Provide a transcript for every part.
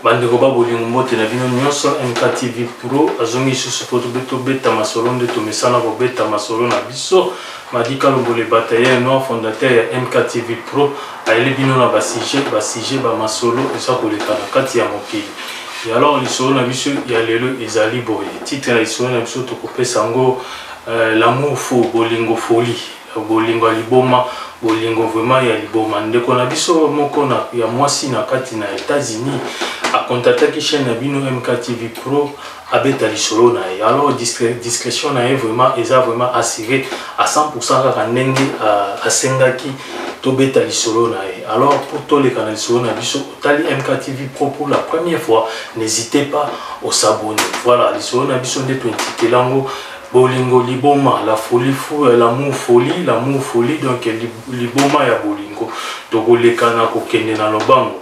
bandeko ba bolingo mbote na bino nyonso mktv pro azongi lisusu mpo tobeta masolo nde tomesana kobeta masolo na biso madi kalombole bataye noir fondateur ya mktv pro ayeli bino na basujet basujet bamasolo eza koleka na kati ya mokili ya alors lisolo na biso ya lelo ezali boye titre ya lisolo na biso tokopesa yango euh, lamour fo bolingo folie Bolingo ya liboma bolingo vraiment ya liboma ndeko na biso moko na ya mwasi na kati na Etats-Unis akontataki chaîne na bino MKTV Pro abeta lisolo na ye alors discrétion na ye vraiment eza vraiment assuré à 100% kaka ndenge euh, asengaki tobeta lisolo na ye alors pour toleka na lisolo na biso otali MKTV Pro pour la première fois n'hésitez pas osabone voilà lisolo na biso nde tointitela yango bolingo liboma la folie fou euh, l'amour folie l'amour folie donc liboma ya bolingo tokoleka na kokende na lobango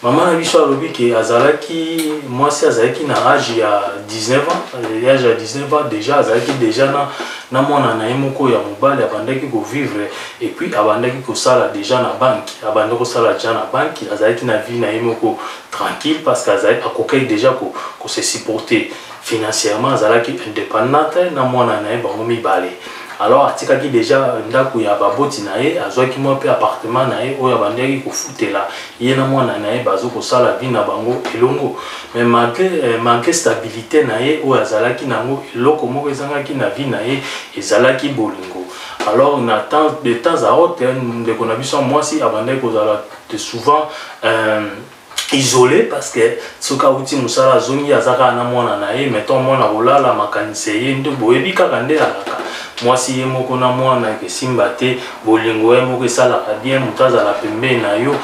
mama na biso alobi ke azalaki mwasi azalaki na age ya 19 ans euh, age ya 19 ans déjà azalaki déjà na, na mwana na ye moko ya mobali abandaki kovivre epuis abandaki kosala déjà na banke abandi kosala déjà na banke azalaki na vie na ye moko tranquille parce que akokaki déjà kose ko supporter financièrement azalaki indépendante na mwana na ye bango mibale alors atikaki deja ndako ya baboti na ye azwaki mwa mpe appartement na ye oyo abandaki kofutela ye na mwana na ye bazo kosala vi na bango elongo mais malgré, eh, malgré stabilité na ye oyo azalaki na yango eloko moko ezangaki na vi na ye ezalaki bolingo alors na temps de temps à autre ndeko na biso ya mwasi abandaki kozala souvent euh, isole parce que soki awuti mosala azongi aza kaka na mwana na ye meton mwana kolala makanisi eye nde boyebi kaka nde alaka mwasi ye moko na mwana esimba te bolingo ye moko esalaka bien moto azala pembeni na yo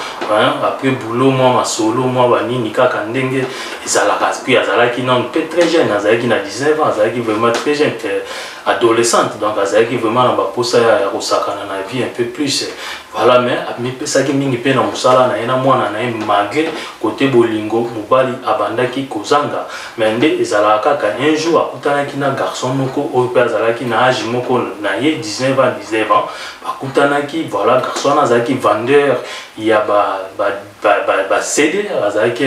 apres boulot mwa masolo mwa banini kaka ndenge ezalaka puis azalaki nano mpe très jeune azalaki na 19 ans azalaki vraiment très jeune adolescente donc azalaki vraiment na baposa ya kosakana na vie un peu plus Voilà, mais amipesaki mingi mpe na mosala na ye na mwana na ye malgré kote bolingo mobali abandaki kozanga mais nde ezalaka kaka un jour akutanaki na garçon moko oyo mpe azalaki na age moko na ye 19 ans 19 ans bakutanaki voilà garçon wana azalaki vendeur ya ba, ba basede bazalaki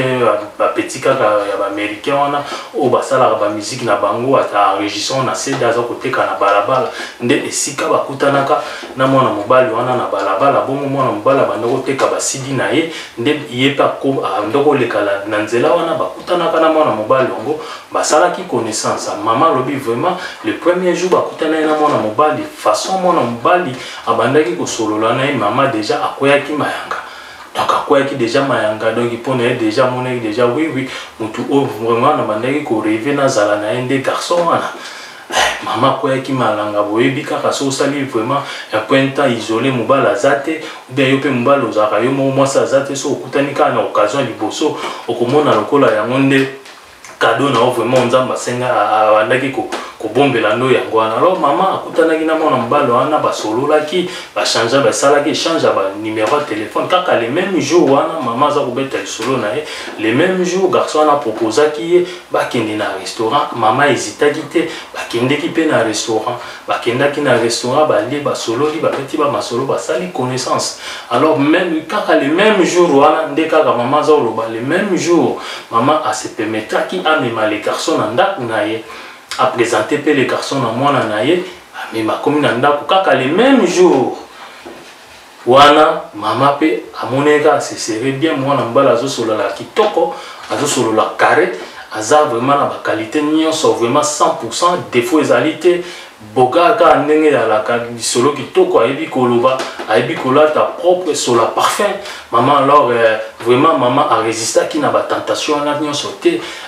bapeti kaka ya baaméricain wana oyo basalaka bamiziki na bango ata enregistrant na sede aza koteka na balabala nde esika bakutanaka na mwana mobali wana na balabala bongo mwana mobali abanda koteka basidi na ye nde ye mpe abanda koleka na nzela wana bakutanaka na mwana mobali yango basalaki connaissance mama alobi vraiment le premier jour bakutanaki na mwana mobali façon mwana mobali abandaki kosolola na ye mama deja akweyaki mayanga donc akweyaki deja mayanga donc mpo na ye deja amonaki deja oui oui motu oyo vraiment nabandaki koreve nazala na ye nde garçon wana eh, mama akweyaki malanga boyebi kaka so osali vraiment un point temps isole mobali aza te obia yo mpe mobali ozalaka yo moko mwasi aza te so okutani kaka na occasion liboso okomona lokola yango nde cadeau na yo vraiment nzambe asenga abandaki kobombela ndo yango wana alors mama akutanaki na mwana mobali wana basololaki bachangea basalaki échange ya banumero ya telefone kaka le même jour wana mama aza kobeta lisolo na ye le même jour garçon wana aproposaki ye bakende na restaurant mama ezitaki te bakendeki mpe na restaurant Bakendaki na restaurant balie basololi babeti ba masolo basali connaissance alors même kaka le même jour wana nde kaka mama aza oloba le même jour mama asepemetaki amema le garçon na ndako na ye apresente mpe le garçon na mwana na ye amema akomi na ndako kaka le même jour wana mama pe amonaki kaka se serait bien mwana mobali azosolola kitoko azosolola carré aza vraiment na baqualité nyonso vraiment 100 pourcent défaut ezali te boga kaka ndenge ezalaka lisolo kitoko ayebi koloba ayebi kolata propre sola parfum mama alors euh, vraiment mama aresistaki na batentation wana nyonso te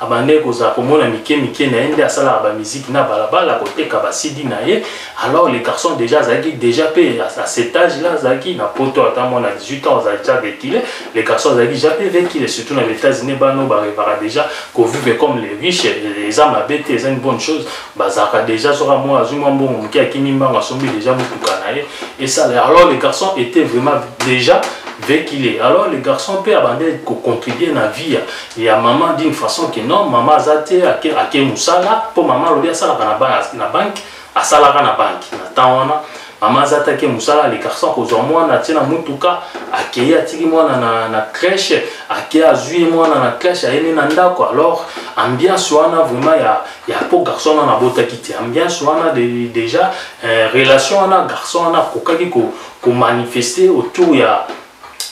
abandaki kozala komona mike mike na ye nde asalaka bamiziki na balabala koteka basidi na ye alors le garçon déjà azalaki déjà mpe à cet âge là azalaki na poto ata mwana 18 ans azalaki déjà vekile le garçon azalaki déjà mpe vekile surtout na baétats-unis bano barevaka déjà kovivre comme les riches eza mabe te eza une bonne chose bazalaka déjà soka mwa azwi mwa mbongo moke akimi mbango asombi déjà motuka na ye esala alors le garçon était vraiment déjà vekile alors le garçon mpe abandaki kocontribue na vie ya maman d'une façon que non maman aza te ake, ake mosala mpo maman alobi asalaka na, ba, na banke asalaka na banke na temps wana mama aza atake mosala alekarsa kozwa mwana atie na motuka akei atiki mwana na, na crèche akei azwi ye mwana na crèche ayemi na ndako alors ambiance wana vraiment ya, ya po garçon wana nabotaki te ambiance wana de, déjà eh, relation wana garçon wana akokaki komanifeste ko autour ya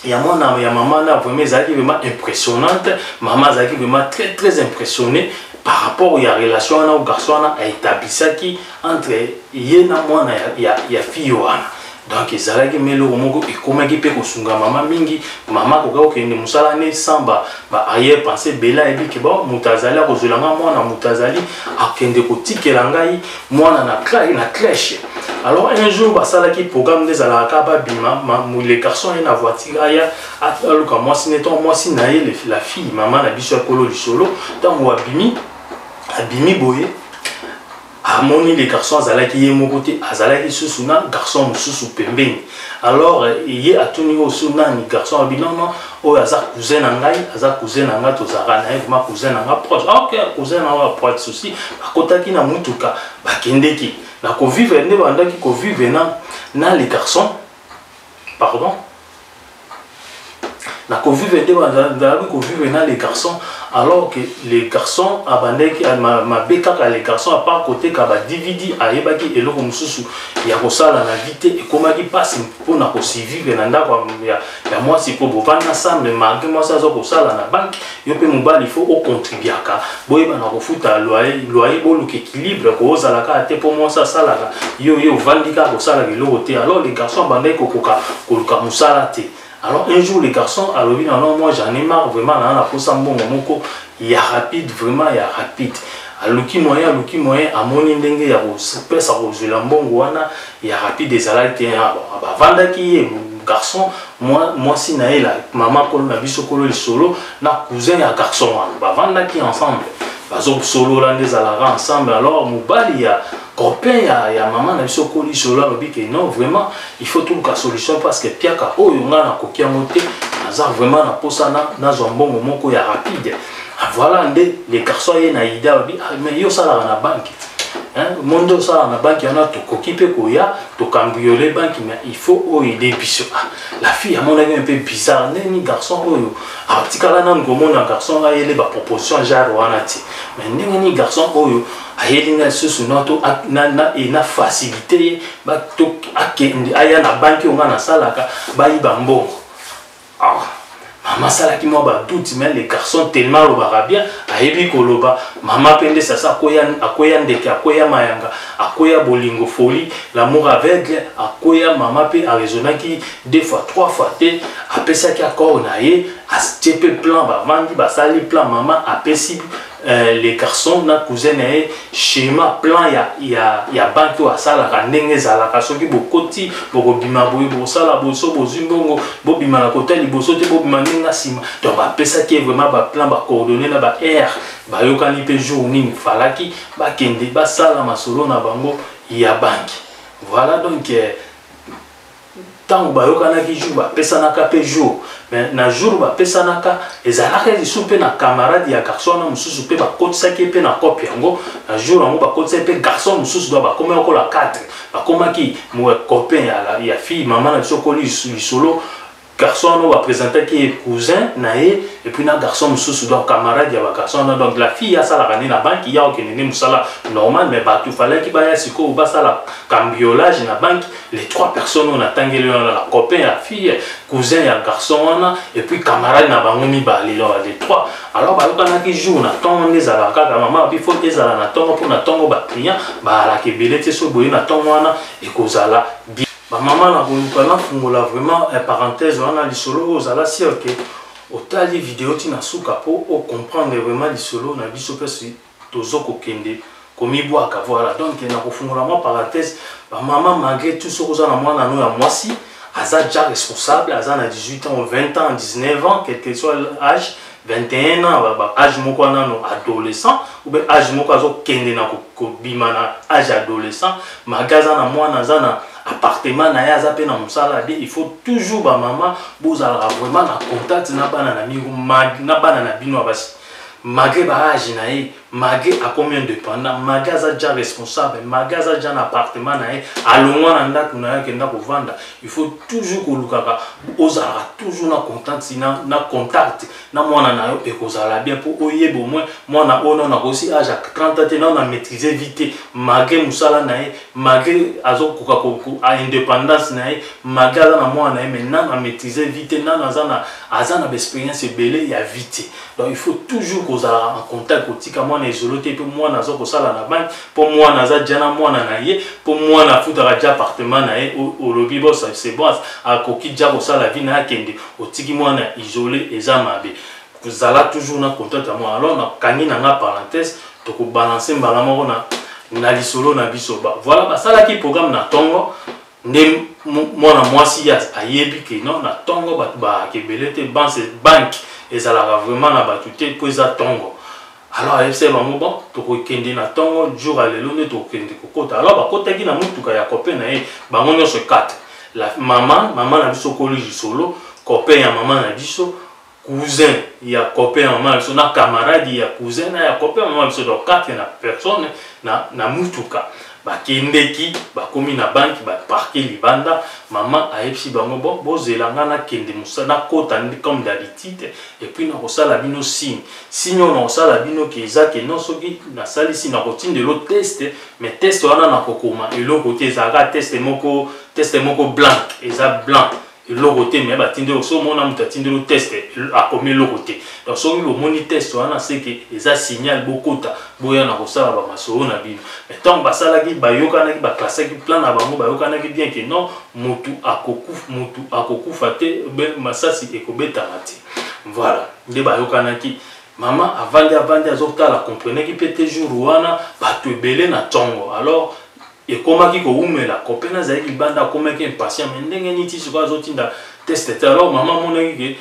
ya mwana ya mama na vraiment ezalaki vraiment impressionnante mama azalaki vraiment très très impressionné par rapport ya relation wana o garçon wana aetablisaki entre ye na mwana ya, ya, ya fille wana donc ezalaki mpe eloko moko ekomaki mpe kosunga mama mingi mama akoka kokende mosala ne sans baarrière pensé bela ayebi ke ba moto azali akozwela ngai mwana moto azali akende kotikela ngai mwana na clay na clèche alors un jour basalaki programme nde ezalaka kaka babima le garçon aye na voiture aya aluka mwasi ne to mwasi na ye la fille mama na biso ya kolo lisolo ntango abimi abimi boye amoni le garçon azalaki ye moko te azalaki lisusu na garçon mosusu pembeni alors ye atuni oyo so nani garçon abi non non oyo aza cousin na ngai aza cousin na ngai tozalaka na ye vraimen cousin na ngai proche ah, ok cousin na ngai proche souci bakotaki na motuka bakendeki na kovivre nde bandaki kovivre na na le garçon pardon na kovivre te nazalaki kovivre na les garçons alors que les garçons abandaki mabe kaka les garçons apart koteka ba dvd ayebaki eloko mosusu ya kosala na vie te ekomaki mpasi mpo na kosivivre na ndako ya mwasi mpo bovanda ensemble malgre mwasi aza kosala na banke yo mpe mobali fo ocontribuaka boyebana kofuta loyer loyer boluka équilibre koozala kaka te mpo mwasi asalaka yo yo ovandi kaka kosalaka eloko te alors le garçon abandaki kokoka koluka mosala te alors un jour le garçon alobi na non moi j'en ai marre vraiment naa naposa mbongo moko ya rapide vraiment ya rapide aluki moyen aluki moyen amoni ndenge ya kopesa kozwela mbongo wana ya rapide ezalaki te ah, bavandaki ye garçon mwasi na ye la mama kolo na biso kolo lisolo na cousin ya garçon wana bavandaki ensemble bazosolola nde ezalaka ensemble alors mobali ya copain ya, ya mama na biso kolo lisolo alobi ke non vraiment il faut toluka solution parce que piaka oyo ngai nakoki yango te naza vraiment na mposa nazwa mbongo moko ya rapide ah, voilà nde le garçon aye na ida alobi ah, mais yo osalaka na banke monde osala na banki wana tokoki mpe koya tokambiole banki mais il faut oyo ede biso ah, la fille amonaki mpe bizarre ndeni garçon oyo atikala nanu komona garçon ayele baproposition genre wana te mais ndenge nini garçon oyo ayeli nga lisusu nato na facilité ye akende aya na banki oyo nga nasalaka bayiba mbongo Ah, mama asalaki mwa batuti me le garçon tellement alobaka bien ayebi koloba mama mpe nde sasa akweya, akweya ndeke akweya mayanga akweya bolingo foli lamour aveugle akweya mama mpe araisonnaki deux fois trois fois te apesaki accord na ye atie mpe plan bavandi basali plan mama apesi Euh, le garçon na cousin na ye schéma plan ya, ya, ya banki oyo asalaka ndenge ezalaka soki bokoti bokobima boye bokosala boye so bozwi mbongo bobima na kota liboso te bobima ndenge na nsima donc bapesaki ye vraiment baplan bacoordonne na baheure bayokani mpe jour nini falaki bakende basala masolo na bango ya banki voilà donc euh, ntango bayokanaki jour bapesanaka mpe jour mais na jour bapesanaka ezalaka lisusu mpe na camarade ya garçon wana mosusu mpe bakotisaki ye mpe na cope yango na jour yango bakotisaki mpe garçon mosusu donc bakomaki lokola 4 bakomaki copain ya, ya fille mama na biso koli lisolo garçon wana bapresentaki ye cousin na ye epuis na garçon mosusu donc camarade ya bagarçon wana donc la fille asalaka nde na banki ya okende nde mosala normal mais bato falaki baya sikoyo basala cambiolage na banki les trois personnes oyo natangeli wana la copain ya fille cousin ya garçon wana et puis camarade na bango mibale lor les trois alors bayokanaki jour na ntongo wana ezalaka kaka mama abi fo ezala na ntongo mpo na ntongo baclient baalaka ebele te soki boye na ntongo wana ekozala bien bamama na koluka nafungola vraiment eh, parenthèse wana lisolo oyo ozala sur ke otali video ti na suka mpo ocomprendre vraiment lisolo na biso mpe tozo kokende komibwaka voilà donc na kofungola mwa parenthèse ba maman malgré tout soki oza na mwana no ya mwasi aza déjà responsable aza na 18 ans 20 ans 19 ans quel que soit l'âge 21 ans ba âge moko wana no adolescent ou bien âge moko azokende na kobima na âge adolescent malgré aza na mwana aza na appartement na ye aza mpe na mosala de il faut toujours bamama bozalaka vraiment na contact na bana na bino na basi malgre ba age na ye malgre akomi independant malgre aza ja responsable malgre aza ja na appartement na ye alongwa na ndako na ye akenda kovanda il faut toujours kolukaka ozalaka toujours na contact na, na contact na mwana na yo ekozala bien mpo oyeba au moins mwana oyo nano akosi age ya 30 ans te nano na maîtrise vie te malgre mosala na ye malgre azokoka indépendance na ye malgre aza na mwana na ye mais nano na maîtrise vie te nano aza na aza na baexperience ebele ya vie te donc il faut toujours kozala en contact kotika mwana ezolo te mpe mwana aza kosala na banki mpo mwana aza ja na mwana na ye mpo mwana afutaka ja appartement na ye olobi bosa c'est bon akoki ja kosala vie na akende otiki mwana isole eza mabe kozala toujours na contact ya mwana alors nakangi na nga parenthèse tokobalanse mbala moko na na lisolo na biso voilà basalaki programme na ntongo nde mwana mwasi ye ayebi ke non na ntongo bato baake ebele te banse banke ezalaka vraiment na bato te mpo eza ntongo alors ayebisaki bango bon tokokende na ntongo jour ya lelo nde tokokende kokota alors bakotaki na motuka ya kope na ye bango nyonso 4 la mama mama na biso koli lisolo copain ya mama na biso cousin ya copain ya mama biso na camarade ya cousin na ya copain ya mama biso donc kati na personne na, na mutuka bakendeki bakomi na banki baparke libanda mama ayebisi bango bo bozela ngai nakende mosala nakota comme d'habitude epuis nakosala bino signe signe oyo nakosala bino ke eza ke non soki nasalisi nakotindelo teste mais teste wana nakokoma eloko te ezalaka teste moko teste moko blanc eza blanc eloko te me batindi yo so omona moto atindeli yo test akomi eloko te donc soki bomoni test wana seke eza signal bokota boya na kosala bamasolo na bino me ntango basalaki bayokanaki baklasaki plan na bango bayokanaki bien ke non motu akokufa, motu akokufa te masasi ekobetama te voilà nde bayokanaki mama avandi avandi azotala comprenaki mpe te jour wana bato ebele na ntongo alors ekomaki kowumela kope nazalaki libanda akomaki impatient me ndenge nini ti sikoyo azotinda teste te alors mama amonaki ke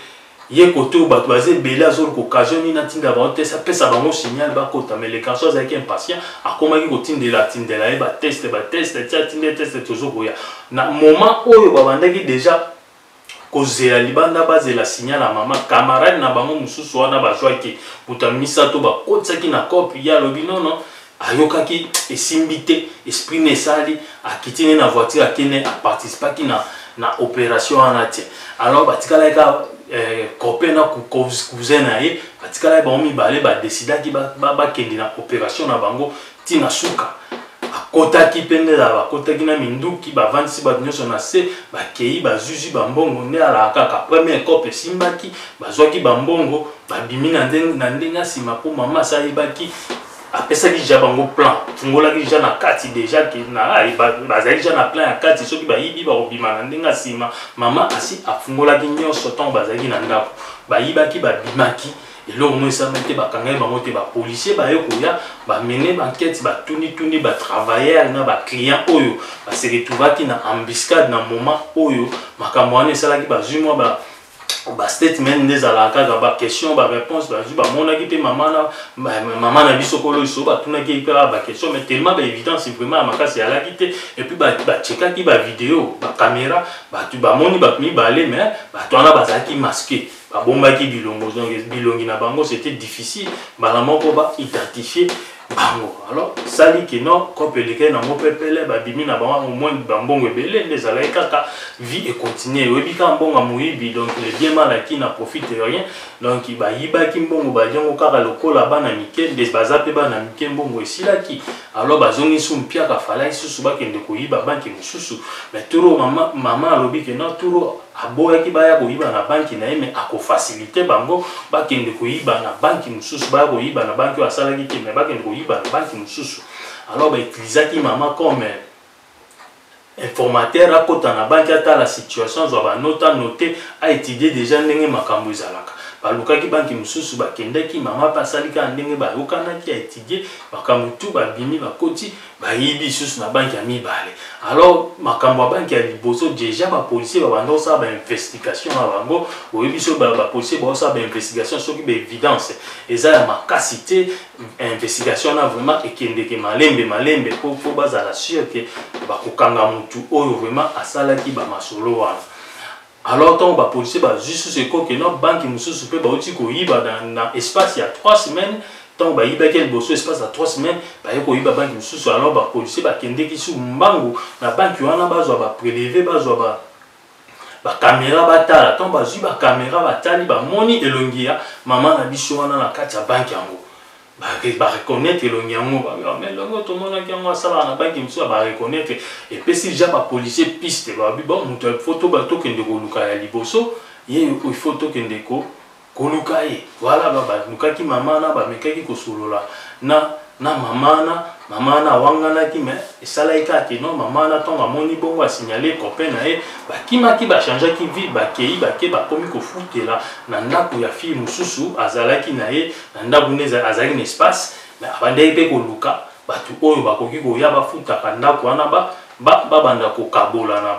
ye kote oyo bato baza ebele azoluka occasion nini atinda bango teste apesa bango signal bakota me le garçon azalaki impatient akomaki kotindela atindela ye bateste bateste ti atinde teste tozokoya na moment oyo babandaki déjà kozela libanda bazela signal ya mama camarade na bango mosusu wana bazwaki moto ya misato bakotisaki na cope ye alobi nono ayokaki esimbi te esprit na esali akiti ne na voiture akende aparticipaki na, na opération wana te alors batikalaki kaka eh, cope na cousin na ye batikalaki bango mibale badesidaki bakende ba, ba na opération na bango ti na suka akotaki mpe nde lala bakotaki na minduki bavandisi bato nyonso na se bakei bazuzi bambongo nde alaka kaka premier cope esimbaki bazwaki bambongo babimi na ndenge ya nsima mpo mama asi ayebaki apesaki ja bango plan fungolaki ja na kati deja bazali ja na plan ya kati soki bayibi bakobima na ndenge ya nsima mama asi afungolaki nyonso ntango bazalaki na ndako bayibaki babimaki ba eloko moko esalami te bakangaki bango te bapolisier baye koya bamene bankete batunituni batravailleur na baclient oyo baseretuvaki na embuscade na moment oyo makambo wana esalaki bazwi mwa ba bastatement nde ezalaka kaka baquestion baréponse bazwi bamonaki mpe mama na biso kolo iso batunaki ye mpe kaka baquestion mais tellement baévidence vraiment ya makasi eyalaki te epuis bachekaki bavideo bacaméra bato bamoni bato mibale mais bato wana bazalaki maske babombaki bilongo donc bilongi na bango c'était difficile mbala moko ba identifier bango alors sali kino cope elekei nango mpe pele babimi na bango au moins bambongo ebele nde ezalaki kaka vie econtinue oyebi kaka mbongo ya moyibi donc le bien mal aki na profite de rien donc bayibaki mbongo balie yango kaka lokola bana mike nde baza mpe bana mike mbongo esilaki alors bazongi su mpiaka falaki susu bakende koyiba banke mosusu mais turo mama, mama alobi kino turo Aboyaki baya koyiba na banki na ye mais ako faciliter bango bakende koyiba na banki mosusu baya koyiba na banki oyo asalaki te mais bakende koyiba na banki mosusu alors ba utilisaki mama comme informateur akota na banki atala situation azwa banote anote aétudie déjà ndenge makambo ezalaka balukaki banki mosusu bakendaki mama mpe asali kaka ndenge bayokanaki aétudie makambo tu babimi bakoti bayibi lisusu na banki ya mibale alors makambo ya banki ya liboso deja bapolisier babanda kosala bainvestigation na bango oyebi so bapolisier baosala bainvestigation soki baevidence eza ya makasi te investigation wana vraiment ekendeke malembe malembe po po bazala sur ke bakokanga motu oyo vraiment asalaki bamasolo wana Alors tango ba policiers bazwi sous eko que non banque mosusu mpe bauti koyiba na, na espace ya 3 semaines ntango bayibaki liboso espace ya 3 semaines baye koyiba banki mosusu alors bapolisier bakendeki su mbangu na banki wana bazwa bapreleve bazwa ba bakamera batala ntango bazwi bakamera batali bamoni elongi ya mama na biso wana na kati ya banki yango Ba ba reconnaitre elongi yango ba ah, mais elongi tomonaki yango asalaka na banki mosusu ba reconnaitre epesi ja ba policier piste babi bon moto il faut toba tokende koluka ya liboso ye il faut tokende ko koluka ye voilà ba balukaki mama wana bamekaki kosolola na na mama wana mama wana awanganaki mais esalaki kaka te non mama wana ntango amoni bongo asignale copain na ye bakimaki bachangeaki ville bakei bake bakomi kofutela na ndako ya fille mosusu azalaki na ye na ndako nde azalaki na espace mais abandaki mpe koluka bato oyo bakoki koya bafutaka ndako wana babanda kokabolana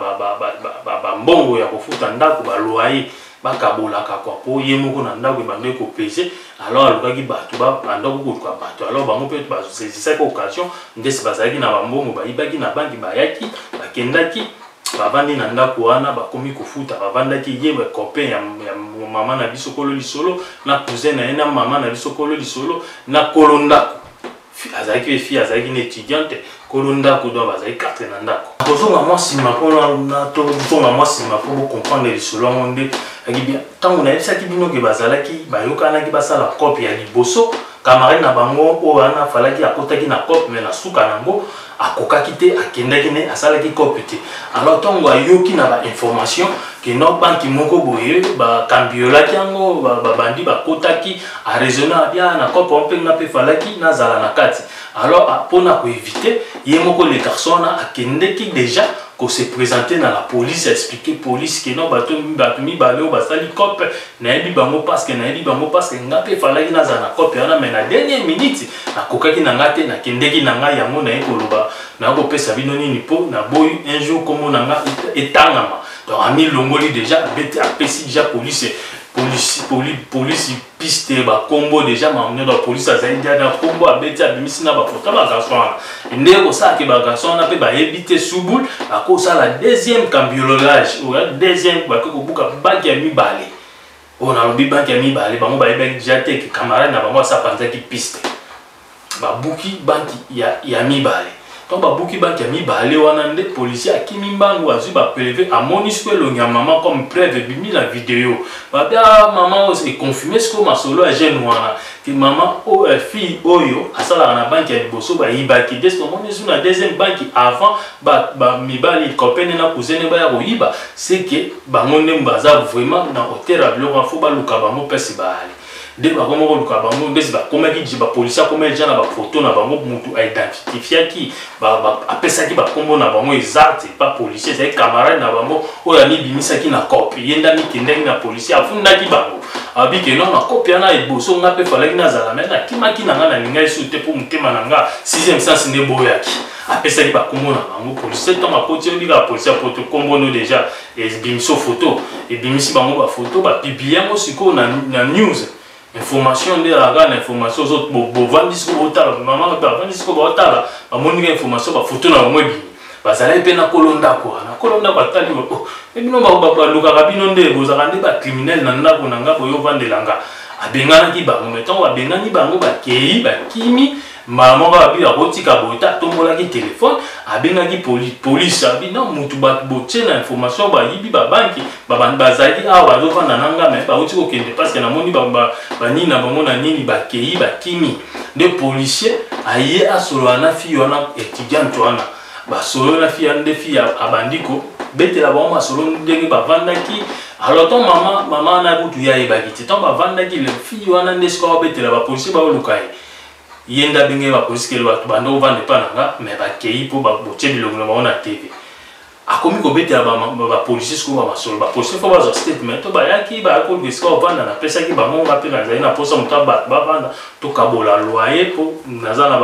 bambongo ya kofuta ndako baloye bakabolaka kwa mpo ye moko na ndako ebandaki kopese alors alukaki bato bandaki koluka bato alors bango mpe bazesisaki occasion ndesi bazalaki na bambongo bayibaki na banki bayaki bakendaki bavandi na ndako wana bakomi kofuta bavandaki ye copain ya, ya mama na biso kolo lisolo na cousin na ye na mama na biso kolo lisolo na kolo ndako azalaki pe fille azalaki na étudiante kolo ndako donc bazalaki katre na ndako kozonga mwa nsima mpona tozonga mwa nsima mpo bocomprendre lisolo yango nde akibia ntango nayebisaki bino ke bazalaki bayokanaki basala cope ya liboso camarade na bango oyo wana afalaki akotaki na cope me na suka na yango akokaki te akendaki ne asalaki cope te alors ntongo ayoki na bainformation ke no banki moko boye bakambiolaki yango babandi bakotaki araisonne abia ah, na cope mpe nga mpe falaki nazala na kati alors ah, mpo na koevite ye moko le garçon wana akendeki déjà ko se présenter na la police expliquer police ke no bato mibale oyo basali cope nayebi bango paske nayebi bango paske nga mpe falaki nazala na cope wana mai na dernier minute nakokaki na nga te nakendeki na ngai yango naye koloba naye kopesa bino nini mpo naboyi un jour nkombo na nga etangama donc amilongoli deja abeti apesi deja polise polisi poli, polisi piste bakombo deja mamino bapolisi azali deja na kombo abeti abimisi na bapoto bagarso wana nde kosala ke bagarçon wana mpe bayebi te subul bakosala deuxième cambiololage oya deuxième bake kobuka baki ya mibale oyo nalobi baki ya mibale bango bayebaki deja te ke camarade na bango asapanzaki piste babuki banki ya, ya mibale ntango babuki banki ya mibale wana nde policier akimi mbangu azwi bapreve amoni sikoyo elongi ya mama comme preve ebimi na video babi a ah, mama oyo econfirme sikoyo masolo ya jeune wana Ti maman oh, euh, fille oyo asalaka na banki ya liboso bayibaki nde soki omoni esu na deuxième banki avant bamibali copene na cousine baya koyiba seke bango nde baza vraiment na hotel ya biloko fo baluka bango mpasi baali nde bakoma koluka bango ndesi bakomaki bapolisi akomaki ja na bafoto na bango motu aidentifitiaki apesaki bakombo na bango eza te pa policier ezali camarade na bango oyo amibimisaki na cope ye nde amikendaki na policier afundaki bango abi ke non na cope wana eboso nga mpe falaki nazala me nakimaki na nga nalingaki su te mpo motema na nga sixième sens nde boyaki apesaki bakombo na bango policier ntango akoti oyebi kaka policier poto kombo no deja ebimiso foto ebimisi bango bafoto bapiblie yango sikoyo na, na news information nde ezalaka kaka na information ozo bovandi siko botala mama bavandi siko baotala bamoni ka information bafoto na bango ebimi bazalaki mpe na kolo ndako wana kolo ndako atali oh, e bino balukaka bino nde bozalaka nde bacriminele na ndako na nga boyo ovandela nga abenganaki bango me ntango babengani bango bakei bakimi mbala moko abi akotika boye te atombolaki telefone abengaki poli polisi abi na motu bato botie na information bayibi babanki babandi bazali awa bazofanda na nga me bauti kokende parceke namoni banini na bango na nini bakei bakimi nde policier aye asolola na fille wana étudiante wana basolo na fille nde fille abandi kobetela bango masolo ndenge bavandaki alors ton mama mama wana kutu ye ayebaki te ntango bavandaki le fille wana nde sikoyo abetela bapolisier baoluka ye ye nde abengeli bapolisi kele bato banda ovanda epa na nga me bakei mpo botie bilongi na bango na tv akomi kobetela bapolisi sikoyo bamasolo bapolisi fo bazwa statement to bayaki bayaki koluka esika ovanda napesaki bango nga mpe nazali na mposa moto ya bato bavanda tokabola loye mpo naza na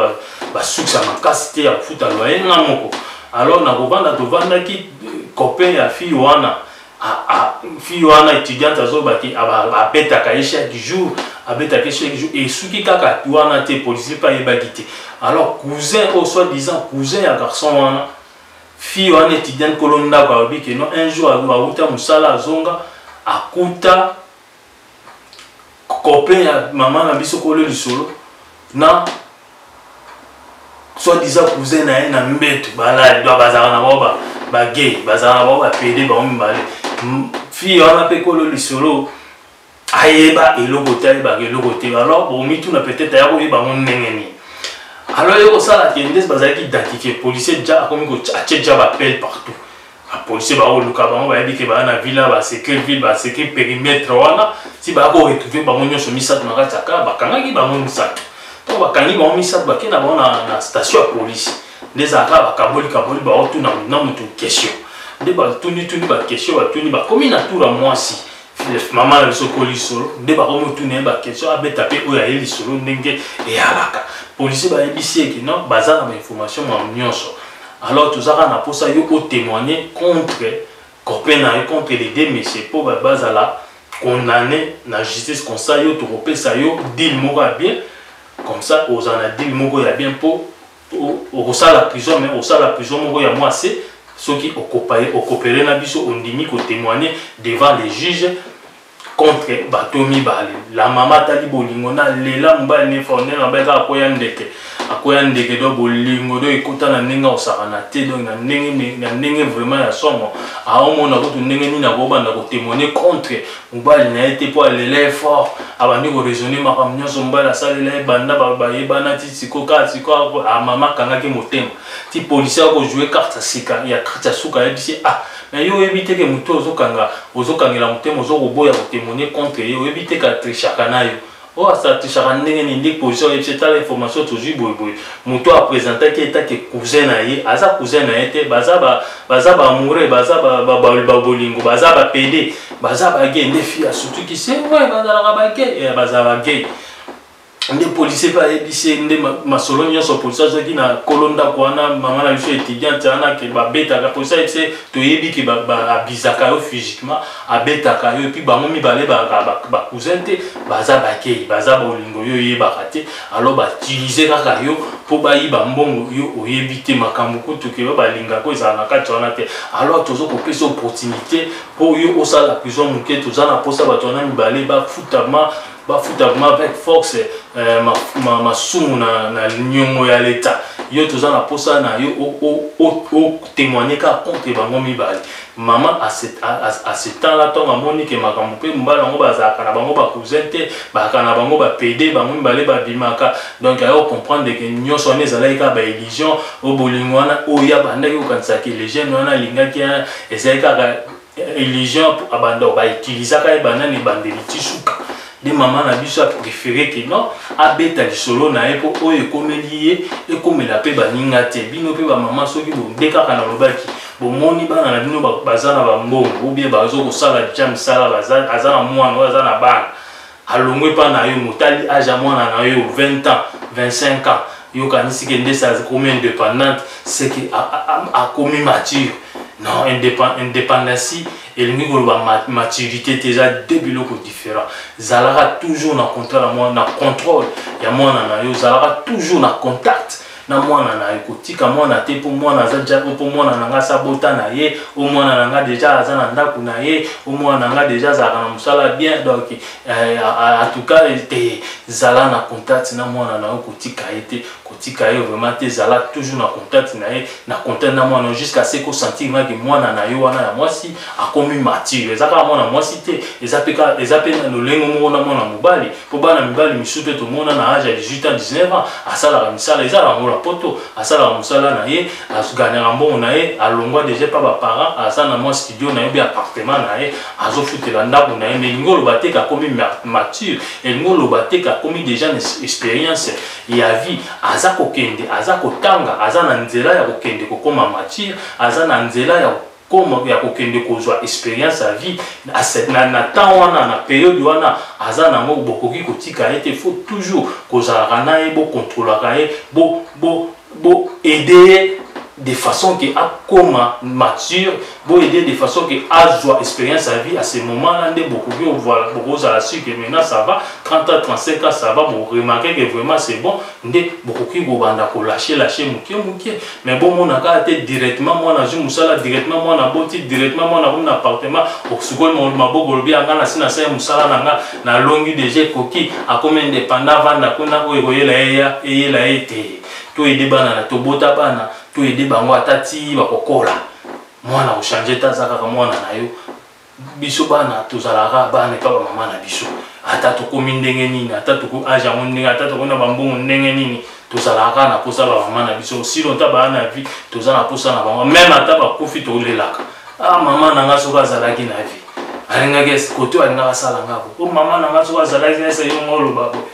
basuksi ya makasi te ya kofuta loye nga moko alors na kovanda tovandaki copain ya fille wana Ah, ah, fille wana étudiante azoba ke abetaka ye chaque jour abetaka ye chaque jour esuki kaka wana te policier mpe ayebaki te alors cousin oyo soit disant cousin ya garçon wana fille wana étudiante kolo ndako alobi ke non un jour awuta mosala azonga akuta copain ya mama na biso kolo lisolo na soit disant cousin na ye na mbetu balali donc bazalaka na bango bagay bazalaka na bango bapede bango mibale fille wana mpe kolo lisolo ayeba eloko te ayebaka eloko te alors bomituna peut-être aya koyeba yango ndenge nini alors ye kosala ke nde bazalaki identifie policier ja akomi atie ja bapele partout ba policier baoluka bango bayebi ke baa na villa baseke ville baseke perimetre wana ti baa ko retrouve bango nyonso misato na kati ya kaa bakangaki bango misato ntango bakangi bango misato bakei na bango na station ya polisi nde ezalaka bakaboli kaboli baotuna na motu question nde batunituni bakestion batuni bakomi na tour ya mwasi Philip mama na biso ko lisolo nde bakomi otuna ye baquestion abeta mpe oyo aye lisolo ndenge eyalaka policier bayebisi eke non baza na bainformation ma nyonso alors tozaka na mposa yo otémoigne contre copain na yo contre les deux messieurs mpo bazala condamné na justice comme ça yo tokopesa yo deal moko ya bien comme ça ozala na deal moko ya bien mpo okosala prison mais osala prison moko ya mwa se soki okopele na biso ondimi kotemoigne devant les juges contre bato mibale la mama atali bolingo na lela mobali nefa ondenge mabali kaka akoya ndeke akoya ndeke do bolingo do ekota na ndenge osakana te donc na ndenge na ndenge vraiment ya somo aomona kutu ndenge nini akobanda kotemoigne contre mobali na ye te mpo alela ye fort abandi koraisonne makambo nyonso mobali asalela ye banda bayebana ti siko kaka siko amama ah, akangaki motema ti polisi akojoue karte ya sika ya karte ya suka ayebisi ye ah na yo oyebi te ke moto ozokanga ozokangela motema ozokoboya kotemone contre ye oyebi te ka trichaka na yo oyo asartishaka ndenge nini nde position ayebisi etala information tozwi boyeboye moto oyo apresentaki etake cousin na ye aza cousin na ye te baza baamoureux baza babolingo baza bapede baza bage nde fi asutuki se vrai bazalaka bage eh, baza bage nde policier mpe ayebisi nde masolo nyonso policier azwaki na kolo ndako wana mama na biso étudiante wana ke babetaka policier ayebisi toyebi ke baabizaka yo physiquement abetaka yo epuis bango mibale ba cousin te baza bakeyi baza bolingo yo oyebaka te alors bautilize kaka yo mpo bayiba mbongo yo oyebi te makambo kutu ke yo balingaka ezala na kati wana te alors tozo kopesa opportunité mpo yo osala prison moke toza na mposa bato wana mibale bafutama bafutama avec force eh, masumu na, na niongo ya leta yo toza na mposa na yo otemoigne kaka contre bango mibale Mama à ce, à, à, à ce temps là ntango amoni ke makambo mpe mobali yango bazalaka na bango bacousin te bazalaka na bango bapede bango mibale babimaka donc ayo comprendre ke nyonso wana ezalaki kaka baillusion oyo bolingo wana oyo abandaki kokanisa ke legene wana alingaki ezalaki kaka illusion abanda bautilisaka ye banda na ebandeli ti suka nde mama na biso aprefere ke non abeta lisolo na ye mpo oyo ekomeli ye ekomela mpe baninga te bino mpe bamama soki bonde kaka nalobaki bomoni bana na bino baza na bambongo obie bazo kosala deja misala aza na mwana oyo aza na bana alongwe mpa na yo motali age ya mwana na yo 20 ans 25 ans yokanisi ke ndesi akomi indépendante seke akomi mature non indépendance elingi koloba maturité te eza de biloko différent zalaka toujours na contrat na mwana na contrôle ya mwana na yo zalaka toujours na contact na mwana na ye kotika mwana te mpo mwana aza deja mpo mwana na ngai asabota na ye o mwana na ngai deja aza na ndako na ye o mwana na ngai deja azalaka na mosala bien donc eh, en tout cas te zala na contact na mwana na yo kotika ye te tika ye vraiment te zala toujours na contact na ye na contact na mwana jusqu'à ce kosentir nga ke mwana na yo wana ya mwasi akomi mature eza kaka mwana mwasi te eza mpe eza mpe na lolenge moko na mwana mobali mpo bana mibali misusu mpe tomona na age ya 18 ans 19 ans asalaka misala eza yango na poto asalaka mosala na ye aganyaka mbongo na ye alongwa deja mpa baparent aza na mwa studio na ye mpe appartement na ye azofutela ndako na ye mais elingi oloba te kakomi mature elingi oloba te kakomi deja na expérience ya vie aza kokende aza kotanga aza na nzela ya kokende kokoma matire aza na nzela ya koma ya kokende kozwa experience ya vie na, na temps wana na periode wana aza nango bokoki kotika ye te faut toujours kozalaka na ye bokontrolaka ye bo, bo, bo aide ye de façon ke akoma mature Bo aider de façon que azwa experience à vie à ce moment là nde bokoki ovoila bokozala sur que maintenant ça va 30 ans 35 ans ça va bo remarquer que vraiment c'est bon nde bokoki kobanda ko lâcher lâcher mukie mukie mais bo mona kaka te directement mwana azwi musala directement mwana aboti directement mwana akomi na appartement osukoli maboko olobi anga na si nasali musala na nga na longi déjà ekoki akomi indépendant avanda kuna oyo ekoyela ye ya eyela ye te to aide bana na tobota bana to aide bango ata ti bakokola mwana kochange te aza kaka mwana na yo biso bana tozalaka bana epa bamama na biso ata tokomi ndenge nini ata toko age yango ndenge ata tokona bambongo ndenge nini tozalaka kaka na mposa bamama na biso si lonta baa na vie toza na mposa na bango meme ata bakufi tolelaka ah mama na ngai soki azalaki na vie alingaki kote oyo alingaka asala ngako o oh, mama na ngai soki azalaki ese yo ngo oloba boye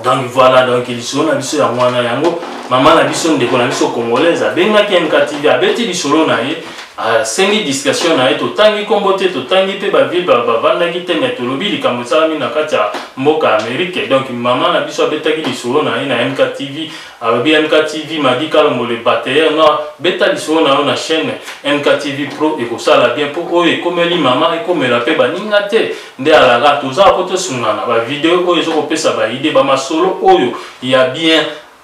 donc voilà donc lisolo na biso yango wana yango mama na biso ndeko na biso congolaise abengaki mktv abeti lisolo na ye asengi ah, discussion na ye totangi nkombo te totangi mpe bavile bavandaki te me tolobi likambo esalami na kati ya mboka ya amerike donc mama na biso abetaki lisolo na ye na mktv Alobi MKTV Madi Kalombo le batailleur noir beta lisolo na yo na chaîne MKTV Pro ekosala bien mpo oyo ekomeli mama ekomela mpe baninga te nde alaka tozala mpo tosungana ba video oyo ezokopesa ba idée ba masolo oyo ya bien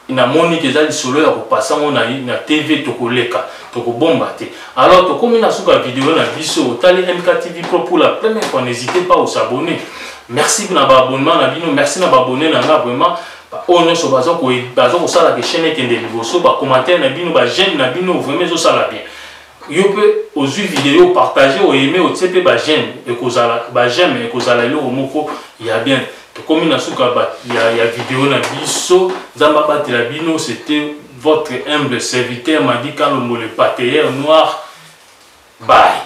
namoni te eza lisolo ya kopasa yango na, na tv tokoleka tokobomba te alors tokomi na suka video na biso otali mktv pro pour la première fois n'hésitez pas osabonner merci na baabonnement na bino merci na baabonne na nga vraiment ba oyo nyonso baza ko baza kosala ke chaîne ekende liboso ba commentaire na bino ba j'aime na bino vraiment ezosala bien yo mpe ozwi video partage oyeme otie mpe ba j'aime ekozala ba j'aime ekozala eloko moko ya bien tokomi na suka ya, ya video na biso nzambe abatela bino c'était votre humble serviteur madi kalombo le pateyer noir bye